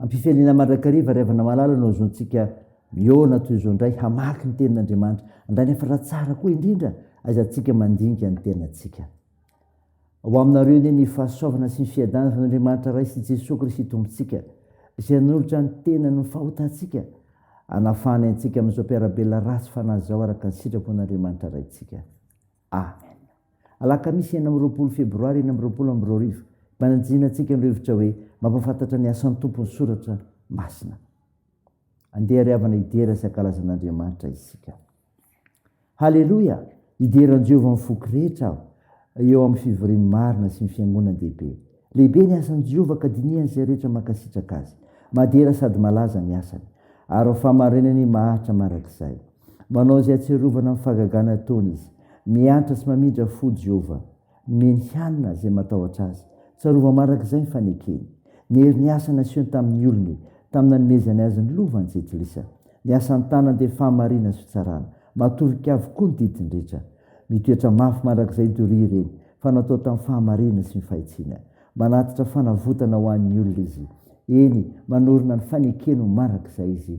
Ampifialiana mandrakariva ry havana malala no azontsika mihaona toy izao indray hamaky ny tenin'Andriamanitra. Andanefatra raha tsara koa indrindra aizantsika mandinika ny tenantsika. Ho aminareo anie ny fahasoavana sy ny fiadanana Andriamanitra Ray sy Jesoa Kristy Tompontsika, izay nanolotra ny tenany ho fahotantsika, hanafahany antsika amin'izao mpiara-belona ratsy fanahy izao araka ny sitrapon'Andriamanitra Raintsika. Amen. Alakamisy enina amby roapolo Febroary enina amby roapolo amby roa arivo, mpanantsina antsika ny rivotra hoe mampahafantatra ny asan'ny Tompo ny soratra masina. Andeha ry havana hidera sy hankalaza an'Andriamanitra isika. Haleloia! Hidera an'i Jehovah amin'ny foko rehetra aho eo amin'ny fivorian'ny marina sy ny fiangonan-dehibe. Lehibe ny asan'i Jehovah ka dinihan'izay rehetra mankasitraka azy. Madera sady malaza ny asany. Ary ho fahamarinany maharitra mandrakizay. Manao izay ahatsiarovana ny fahagagana ataony izy. Miantra sy mamindra fo Jehovah. Nomeny hanina izay matahotra azy. Tsarovy mandrakizay ny fanekeny. Niery ny asa nasehony tamin'ny olony, tamin'ny nanomezany azy ny lova ny Jentilisa. Ny asan'ny tanany dia fahamarinana sy fitsarana. Matorika avokoa ny didiny rehetra. Mitoetra mafy mandrakizay doria ireny, fa natao tamin'ny fahamarinana sy ny fahitsiana. Manatitra fanavotana ho an'ny olona izy. Eny, manorina ny fanekeny ho mandrakizay izy.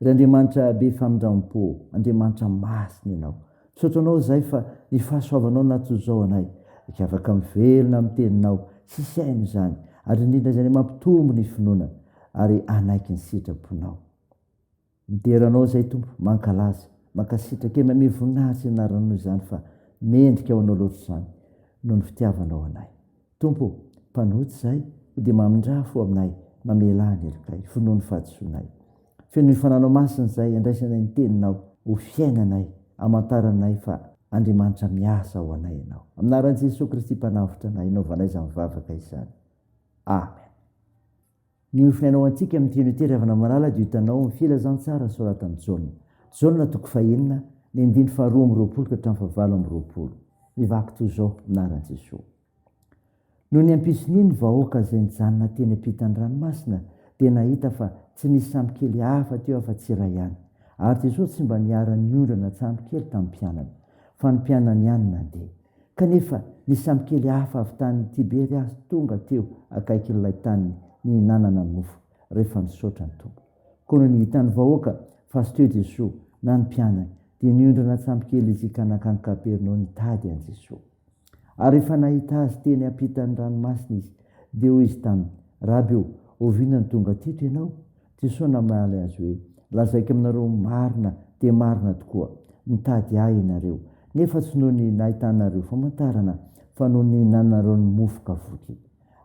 Ry Andriamanitra be famindrampo, Andriamanitra masina Ianao. Misaotra Anao izahay fa ny fahasoavanao natoa zao anay, ka afaka mivelona amin'ny Teninao sy hisaina izany, ary indrindra izany mampitombo ny finoana ary hanaiky ny sitraponao. Midera Anao izahay Tompo, mankalaza, mankasitraka e, mamehy voninahitra ny anaranao izany fa mendrika ho Anao loatra izany noho ny fitiavanao anay. Tompo o, mpanota izahay, ho dia mamindrà fo aminay, mamelà ny helokay, vonoa ny fahadisoanay. Fenoy fananao masina izay andraisanay ny Teninao ho fiainanay, amantara anay fa Andriamanitra miasa ho anay Ianao. Amin'ny anaran'i Jesoa Kristy Mpanavotra anay, anaovanay izany vavaka izany. Amen. Ny ho finainaoantsika amin'ity unité Ravana Malala dia hitanao ny filazantsara soratan'i Jaona. Jaona toko fahenina, ny andininy faharoa amby roapolo ka hatramin'ny fahavalo amby roapolo. Mivaky toy izao ny anaran'i Jesoa. Nony hampison'iny ny vahoaka izay nijanona teny ampitan'ny ranomasina dia nahita fa tsy nisy sambokely hafa teo afa-tsy iray ihany. Ary Jesoa tsy mba niharan'ny ondra na tsambokely tamin'ny mpianany, fa ny mpianany ihany nandeha. Kanefa ny samikely hafa avy tany Tiberia aza tonga teo akaikin'ilay taniny nihinanana mofo, rehefa nisaotra ny Tompo. Koa nony hitan'ny vahoaka fa tsy teo Jesoa na ny mpianany, dia niondrana an-tsambokely izy ka nankany Kapernaoa nitady an'i Jesoa. Ary rehefa nahita Azy teny ampitan'ny ranomasina izy, dia hoy izy taminy, Raby ô, oviana no tonga teto Ianao? Jesoa namaly azy hoe, Lazaiko aminareo marina dia marina tokoa, Nitady Ahy ianareo, nefa tsy noho ny nahitanareo famantarana, fa noho ny nihinananareo ny mofo ka voky.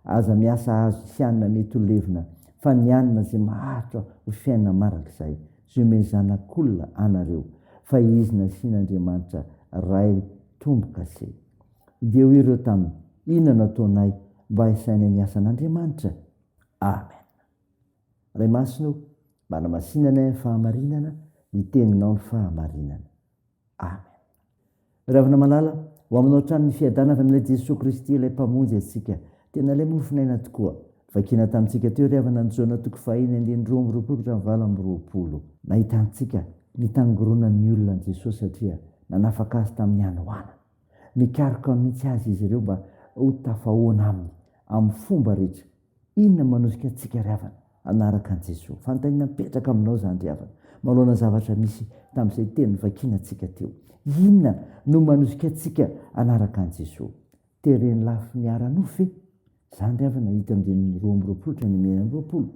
Aza miasa hahazo izay hanina mety ho levona, fa ny hanina izay maharitra ho fiainana mandrakizay, izay omen'ny Zanak'Olona anareo, fa Izy nasian'Andriamanitra Ray tombo-kase. Dia hoy ireo taminy, Inona no ataonay mba hisainay ny asan'Andriamanitra? Amen. Ray Masina o, manamasinana ny fahamarinana, ny teninao ny fahamarinana. Amen. Ravina malala, ho aminao hatrany ny fiadana avy amin'ilay Jesoa Kristy ilay Mpamonjy antsika. Tena ilay mofon'aina tokoa. Vakina tamintsika teo ry havana ny Jona toko fahiny andininy roa amby roapolo hatramin'ny valo amby roapolo. Nahitantsika ny tangoronan'ny olona an'i Jesoa satria nanafaka azy tamin'ny hanoanana. Nikaroka mihitsy azy izy ireo mba ho tafahoana aminy amin'ny fomba rehetra Inona no manosika antsika ry havana hanaraka an'i Jesoa? Fanontaniana mipetraka aminao izany ry havana, manoloana ny zavatra misy tamin'izay teny novakianantsika teo. Inona no manosika antsika hanaraka an'i Jesoa? Teren'ny lafiny ara-nofo ve? Izany ry havana hita amin'ny andininy roa amby roapolo hatramin'ny enina amby roapolo.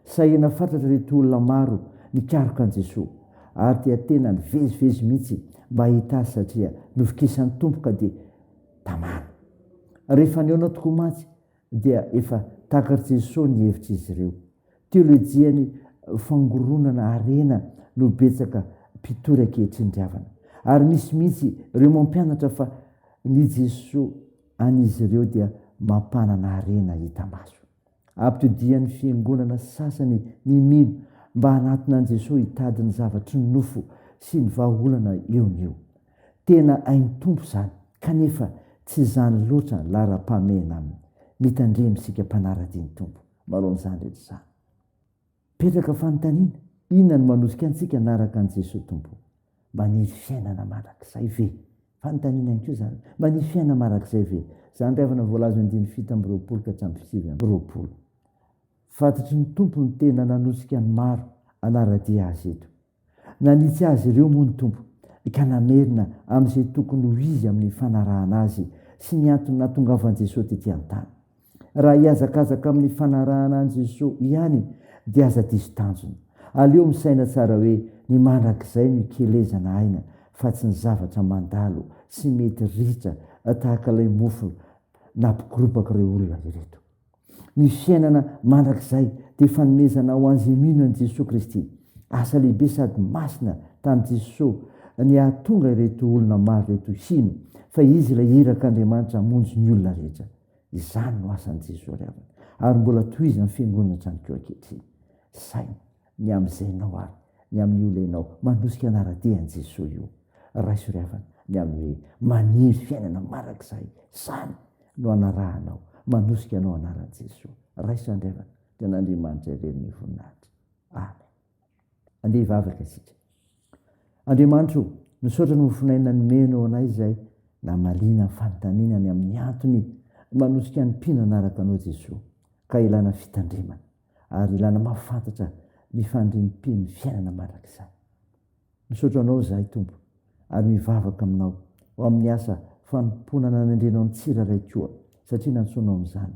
Sahirana fatratra ireto olona maro nikaroka an'i Jesoa, ary dia tena nivezivezy mihitsy mba hahita Azy satria novokisan'ny Tompo ka dia tamana. Rehefa nihaona tokoa mantsy dia efa takar'i Jesoa ny hevitr'izy ireo. Teolojian'ny fangoronana harena no betsaka mpitory ankehitriny ry havana. Ary misy mihitsy ireo mampianatra fa ny Jesoa an'izy ireo dia mampanana harena hita maso. Ampitodian'ny fiangonana sasany ny mino mba hanatona an'i Jesoa hitady ny zavatry ny nofo sy ny vahaolana eo no eo. Tena ain'ny Tompo izany, kanefa tsy izany loatra ny laharam-pahamehana aminy. Mitandrema isika mpanara-dia ny Tompo, manao an'izany rehetra izany. Mipetraka fanontaniana, inona no manosika antsika hanaraka an'i Jesoa Tompo? Maniry fiainana mandrakizay ve? Fanontaniana ihany koa izany. Maniry fiainana mandrakizay ve? Izany rehefa ny voalazon'ny andininy fito amby roapolo ka hatramin'ny sivy amby roapolo. Fantatry ny Tompo ny tena nanosika ny maro hanara-dia Azy eto. Nanitsy azy ireo moa ny Tompo, ka namerina amin'izay tokony ho izy amin'ny fanarahana Azy sy ny antony nahatongavan'i Jesoa tetỳ an-tany. Raha hihazakazaka amin'ny fanarahana an'i Jesoa ihany, dia aza diso tanjona. Aleo misaina tsara hoe ny mandrakizay no ikelezana aina, fa tsy ny zavatra mandalo sy mety ritra tahaka ilay mofo nampikoropak'ireo olona ireto. ny fiainana mandrakizay dia fanomezana ho an'izay mino an'i Jesoa Kristy. Asa lehibe sady masina tamin'i Jesoa ny hahatonga ireto olona maro ireto hino fa Izy ilay Irak'Andriamanitra hamonjy ny olona rehetra. Izany no asan'i Jesoa ry havana, ary mbola tohizan'ny Fiangonana hatramin'ikoa ankehitriny. Saina. ny amin'ny zainao ary ny amin'ny olenao manosika anara-dia an'i Jesoa io. Raiso ry havana ny amin'ny hoe maniry fiainana marak'izay, izany no anarahanao, manosika anao anaran'i Jesoa. Raiso andry havana, dia an'Andriamanitra irery ny voninahitra. Amen. Andeha hivavaka isika. Andriamanitro, misaotra ny mofonaina nomenao anay izay namaliana ny fanontaniana ny amin'ny antony manosika ny mpino hanaraka anao Jesoa ka ilana fitandremana. ary ilana mahafantatra ny fandrimpin'ny fiainana mandrakizay. Misaotra Anao izahay Tompo ary mivavaka Aminao ho amin'ny asa fanompoana nanendrenao ny tsirairay koa satria nantsoinao amin'izany.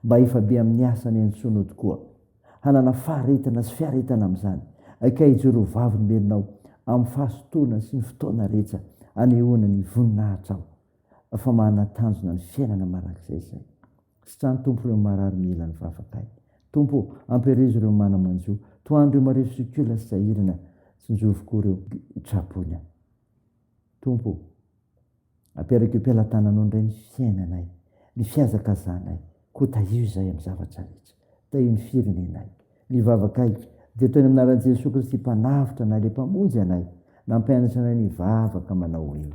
Mba hifabe amin'ny asa niantsoanao tokoa hanana faharetana sy fiaretana amin'izany. Ekay hijoro ho vavolombelonao amin'ny fahasotoana sy ny fotoana rehetra anehoana ny voninahitrao fa manana tanjona ny fiainana mandrakizay izay. Sitrano Tompo ireo marary mila ny vavakay Tompo ô, ampierizo ireo mana manjo Tohano ireo marefo sy ko lasa sahirana Tsinjovy koa ireo tra-boina Tompo ô, aperak'io mpelatananao indray ny fiainanay Ny fihazakazanay Koa tahio izahay amin'ny zavatra rehetra Tahio ny firenenay Ny vavakay dia toy ny amin'ny anaran'i Jesoa Kristy Mpanavotra anay ilay Mpamonjy anay Nampianatra anay ny hivavaka manao hoe.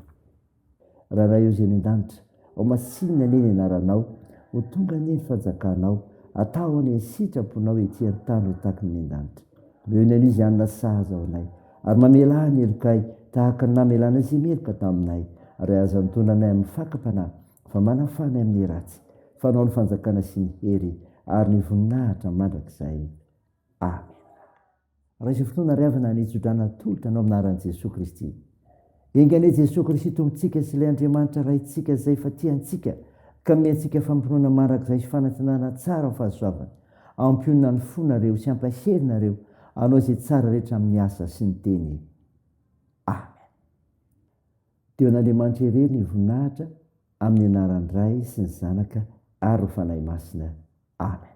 Raraio Izay any an-danitra. Ho masinina anie ny anaranao. Ho tonga anie ny fanjakanao. Ataho anie ny sitraponao ety an-tany ho takin'ny any an-danitra. Omeo ny anio izay hany nasazy ao anay. Ary mamela ahy ny helokay tahaka ny namelanay izay meloka taminay. Ary aza antonona anay amin'ny fakam-panahy, fa manafaha anay amin'ny ratsy. Fa anao ny fanjakana sy ny hery ary ny voninahitra mandrakizay. Amena. Raha izao fotoana ary avy naniry tsodrano atolotra anao amin'ny anaran'i Jesoa Kristy. Enga anie Jesoa Kristy Tompontsika sy ilay Andriamanitra Raintsika izay fa tia antsika ka ome antsika fampinoana mandrakizay sy fanantenana tsara amin'ny fahasoavany. Ampionona ny fonareo sy ampahery nareo hanao izay tsara rehetra amin'ny asa sy ny teny. Amen. Dia ho an'Andriamanitra irery ny voninahitra amin'ny anaran'ny Ray sy ny Zanaka ary ny Fanahy Masina. Amen.